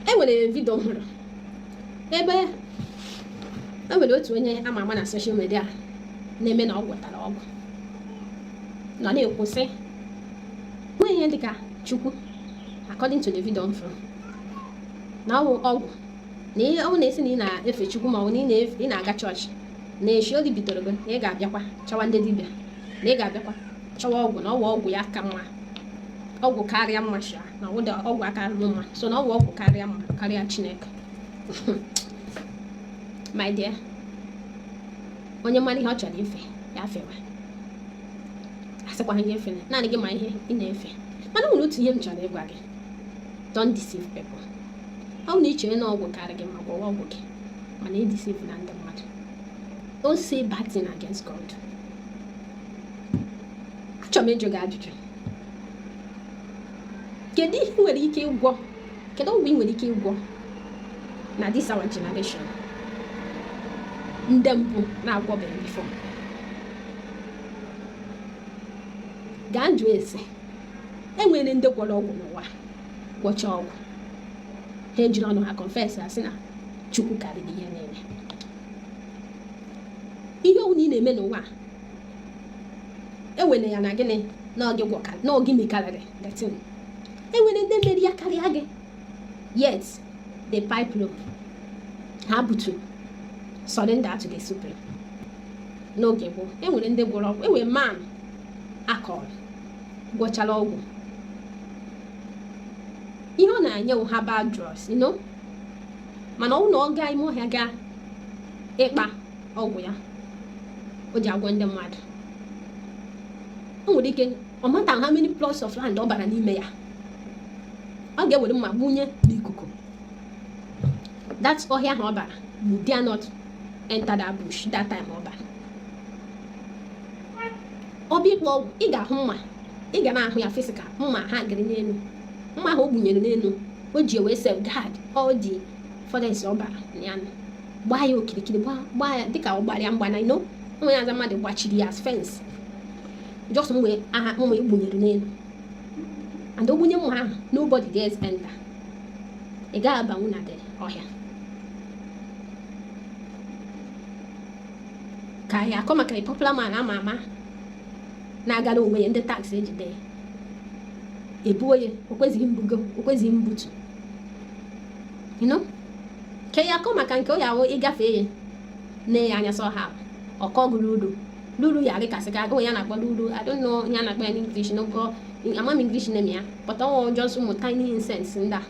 e nwere vidio m hụrụ ebe e nwere otu onye ama ama na social media na-eme na ọ gwọtara ọgwụ nọ na-ekwu sị nweghị ihe dịka chukwu according to the video m fụrụ na ọ wụ ọgwụ na ihe ọ na-esi na ị na-efe chukwu ma ọ bụ na ị na-aga chọọchị na echi oge bidoro gị na ị ga-abịakwa chọwa ndị dibịa na ị ga-abịakwa chọwa ọgwụ na ọ wụ ọgwụ ya ka mma ọgwụ karịa mma na ụda ọgwụ aka alụ mma so na ọ wụ ọgwụ karịa mma karịa chineke my dear onye mara ihe ọ chọrọ ife ya fewa asịkwaghị gị efe naanị gị ma ihe ị na-efe mana nwere otu ihe m chọrọ ịgwa gị don't deceive people ọ na ichere na ọgwụ karịa gị mma gwọwa ọgwụ gị mana e deceive na ndị mmadụ don't say bad thing against God achọrọ m ịjụ gị ajụjụ kedu ihe ị nwere ike ịgwọ kedu ọgwụ ị nwere ike ịgwọ na this our generation ndị mbụ na-agwọbeghị before gaa jụọ ese enwere ndị gwọrọ ọgwụ n'ụwa gwọcha ọgwụ ha ejiri ọnụ ha confess asị na chukwu karịrị ihe niile ihe ọbụla ị na-eme n'ụwa ewele ya na gịnị na ọ gị gwọka na ọ gị mekarịrị the thing enwere ndị mere ya karịa gị yet the people ha butu surrender to the supreme n'oge gboo enwere ndị gwọrọ ọgwụ enwere man a kọrọ gwọchara ọgwụ ihe ọ na-enye herbal drugs you know mana ọ wụ na ọ gaa ime ọhịa gaa ịkpa ọgwụ ya o ji agwọ ndị mmadụ o nwere ike no matter how many plots of land ọ bara n'ime ya ọ ga-ewere mma gbunye n'ikuku that ọhịa ahụ ọ bara you dare not enter that bush that time ọ bara ọ bụ ịkpa ọgwụ ị ga-ahụ mma ị ga na-ahụ ya physical mma hangịrị n'elu mma ahụ o gbunyere n'elu o ji wee safeguard all the forest ọ bara ya gbaa ya okirikiri gbaa ya dịka ọ gbara ya mgba na you know onwe ya aza mmadụ gbachiri ya fence just mgbe ahụ mma egbunyere n'elu and o gbunye mma ahụ nobody dares enter ị gaghị abanwu na ọhịa ka ya akọ maka popular man ama ama na-agara onwe ya ndị tax ejide ya ebuo ya okwezighị mbugo okwezighị mbutu you know ka ya akọ maka nke onye ahụ ịgafe ya na ya anya sọ ha ọ kọọ gụ ululu ululu ya dịkasị ka agụụ ya na-akpọ ululu I don't know ihe a na-akpọ ya n'English n'ogo ama m English name ya but ọ wụrụ just ụmụ tiny insects ndị a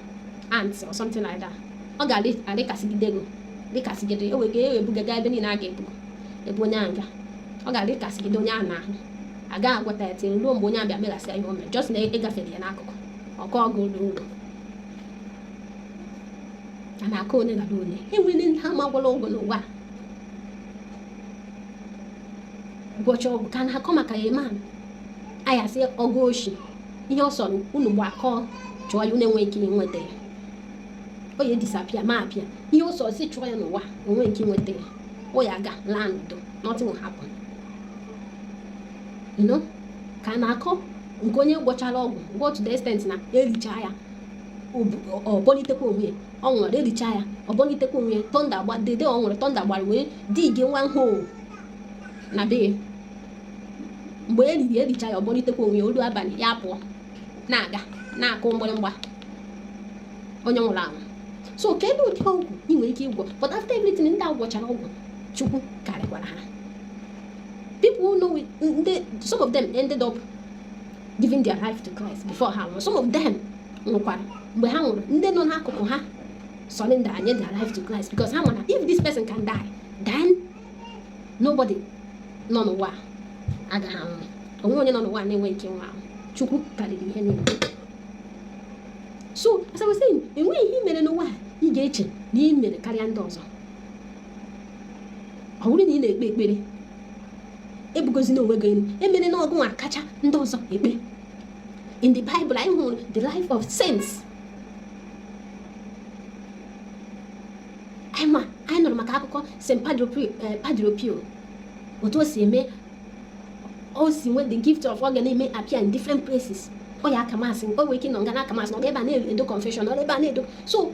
ants or something like that ọ ga-adịkasịgide ego dịkasịgide ewe ga ewe bugaga ebe niile a ga-ebugo ebe onye ahụ ga ọ ga-adịkasịgide onye ahụ n'ahụ a ga-agwọta ya tinye ruo mgbe onye ahụ bịa meghasịa ihe o mere just na ị gafere ya n'akụkụ ọ kọọ gụ ululu a na-akọ ole na ole e nwere ndị a ma gwọrọ ọgwụ n'ụwa ụbọchị ọgwụ ka a na-akọ maka ya ma anyị asị ọgwụ oshi ihe ọ sọrọ unu gbakọọ chụọ ya unu enwe ike nweta ya ọ ya disappear ma appear ihe ọ sọrọ si chụọ ya n'ụwa o nwe ike nweta ya ọ ya-aga laa n'udo nothing will happen you know ka a na-akọ nke onye gwọchara ọgwụ gwọọ to the extent na e licha ya ọ bọlitekwa onwe ya ọ nwụrụ e licha ya ọ bọlitekwa onwe ya thunder gba dede ọ nwụrụ thunder gbara wee digi nwa nhụ na be mgbe e liri e licha ya ọ bọlitekwa onwe ya o luo abalị ya apụọ na-aga na-akụ mgbịrịmgba onye nwụrụ anwụ so kedu ụdị ọgwụ ị nwere ike ịgwọ but after everything ndị a gwọchara ọgwụ chukwu karịkwara ha People who know it, mm, they, some of them ended up giving their life to Christ before ha nwụrụ. Some of them nwụkwara mgbe ha nwụrụ ndị nọ n'akụkụ ha surrendered their life to Christ because ha ma na if this person can die then nobody nọ n'ụwa agaghị anwụ o nwe onye nọ n'ụwa na-enwe ike nwa ahụ Chukwu karịrị ihe niile so as I was saying enweghị ihe i mere n'ụwa ị ga-eche na ị mere karịa ndị ọzọ ọ bụrụ na ị na-ekpe ekpere ebugozina onwe gị elu emere na ọ gụnwa kacha ndị ọzọ ekpe in the bible anyị hụrụ the life of saints anyị ma anyị nụrụ maka akụkọ st eh, padre pio otu o si eme o si nwee the gift of ọ ga na-eme appear in different places ọ ya-aka Mass o nwere ike nọ nga na-aka Mass nọ ebe a na-edo confession nọ ebe a na-edo so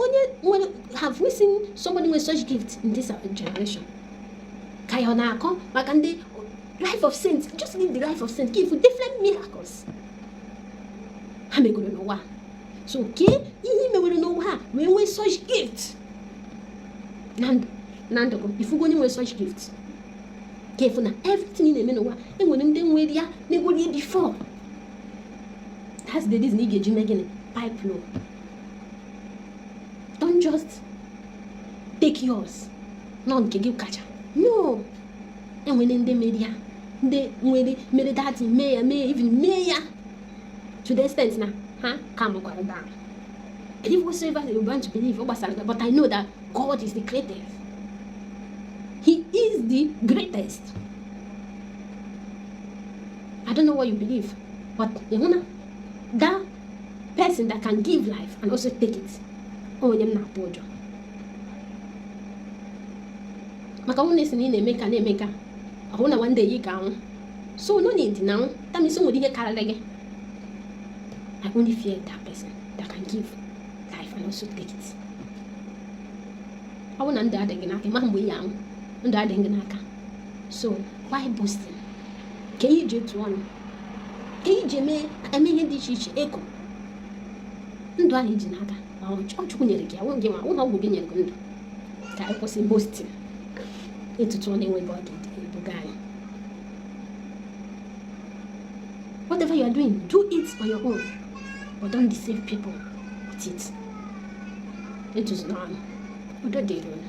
onye nwere have we seen somebody with such gift in this generation ka ya ọ na-akọ maka ndị life of saint just live the life of saint give different miracles ha megoro n'ụwa so kee ihe mewere n'ụwa ha wee nwee such gift na ndụ na ndụ gị ị fụgo onye nwere such gift ka ị fụ na everything ị na-eme n'ụwa e nwere ndị nwere ya megoro ya before that's the reason ị ga-eji mee gịnị pipe low don't just take yours na ọ nke gị kacha no enwere ndị mere ya ndị nwere mere dati mee ya mee even mee ya to the extent na ha calmụkwara down believe whatsoever you want to believe ọ gbasara gị but i know that god is the greatest he is the greatest i don't know what you believe but ịhụ na gaa person that can give life and also take it onye m na-atụ ụjọ maka ọnwụ na-esi na ị na-eme ka na-eme ka ọ wụ na one day ị ga-anwụ so no need na anwụ tamisi nwere ihe karịrị gị I only fear that person that can give life and also take it ọ bụ na ndụ adịghị n'aka ị ma mgbe ị ga-anwụ ndụ adịghị n'aka so why boasting ka ihe ị ji etu ọnụ ihe ị ji eme eme ihe dị iche iche eko ndụ ahụ ị ji n'aka ọ chukwu nyere gị ọ wụghị ma ụlọ ọgwụ gị nyere gị ndụ ka anyị kwụsị boasting otutu ọnụ enweghị ọ ga-ebuga anyị whatever you are doing do it on your own but don't deceive people with it etuzila ọnụ udo dịrị unu